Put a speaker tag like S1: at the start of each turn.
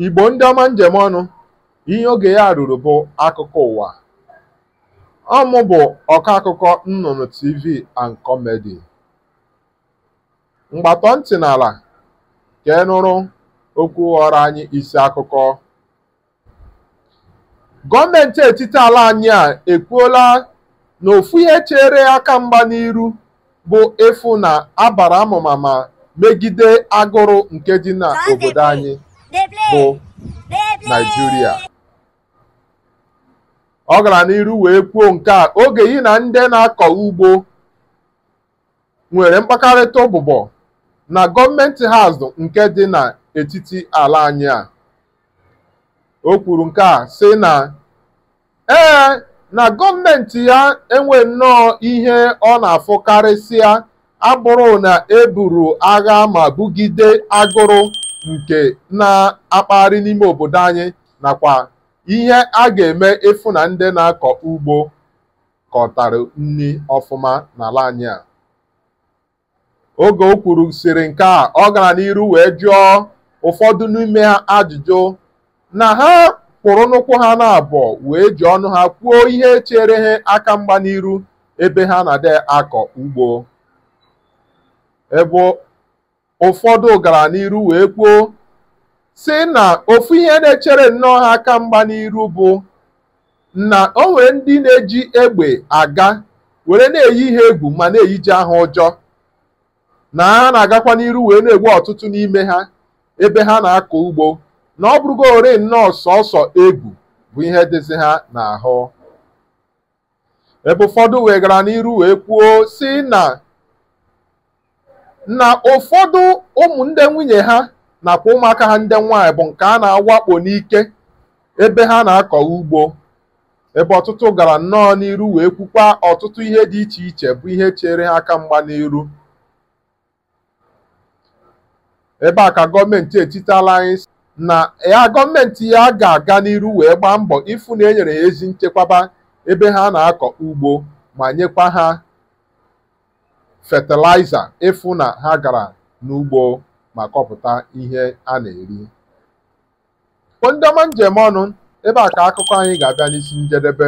S1: Igbo ndị ọma m ji eme ọnụ ihe oge ya ruru bụ akụkọ ụwa ọ mụ bụ ọkọ akụkọ nnụnụ TV and Comedy ngwa tọọ ntị n'ala ka ị nụrụ okwu ghọọrọ anyị isi akụkọ gọọmenti etiti ala anyị a ekwuola na ofu ihe chere aka mgba n'iru bụ ịfụ na a bara amụma ma megide agụrụ nke dị na obodo anyị bụ Naịjirịa ọ gara n'iru wee kwuo nke a oge ya na ndị na-akọ ugbo nwere mkpakọrịta ụbụbọ na gọọmenti House nke dị n'etiti ala anyị a o kwuru nke a sị na ee na gọọmenti ya enwe nnọọ ihe ọ na-afụ karịsịa abụrụ na e buru agha ma bugide agụrụ nke na-akpagharị n'ime obodo anyị nakwa ihe a ga-eme ịfụ na ndị na-akọ ugbo kọtara nri ọfụma n'ala anyị a oge o kwuru sịrị nke a ọ gara n'iru wee jụọ ụfọdụ n'ime ha ajụjụ na ha kwụrụ n'ụkwụ ha n'abụọ wee ji ọnụ ha kwuo ihe chere ha aka mgba n'iru ebe ha na-adị akọ ugbo ebe ụfọdụ gara n'iru wee kwuo sị na ofu ihe na-echere nnọọ ha aka mgba n'iru bụ na o nwere ndị na-eji egbe aga were na-eyi ha egwu ma na-eyije ha ụjọ na ha na-agakwa n'iru wee na-egbu ọtụtụ n'ime ha ebe ha na-akọ ugbo na ọ bụrụgo ore nnọọ sọsọ egwu bụ ihe dịzi ha n'ahụ ebe ụfọdụ wee gara n'iru wee kwuo sị na na ụfọdụ ụmụ ndị nwunye ha nakwa ụmụaka ha ndị nwaanyị bụ nke a na-awakpo n'ike ebe ha na-akọ ugbo ebe ọtụtụ gara nnọọ n'iru wee kwukwa ọtụtụ ihe dị iche iche bụ ihe chere ha aka mgba n'iru ebe a ka gọọmenti etiti ala anyị sị na ya gọọmenti ya ga-aga n'iru wee gbaa mbọ ịfụ na e nyere ya ezi nchekwaba ebe ha na-akọ ugbo ma nyekwa ha fatịlaịza ịfụ na ha gara n'ugbo ma kọpụta ihe a na-eri ndị ọma m ji eme ọnụ ebe a ka akụkọ anyị ga-abịa n'isi njedebe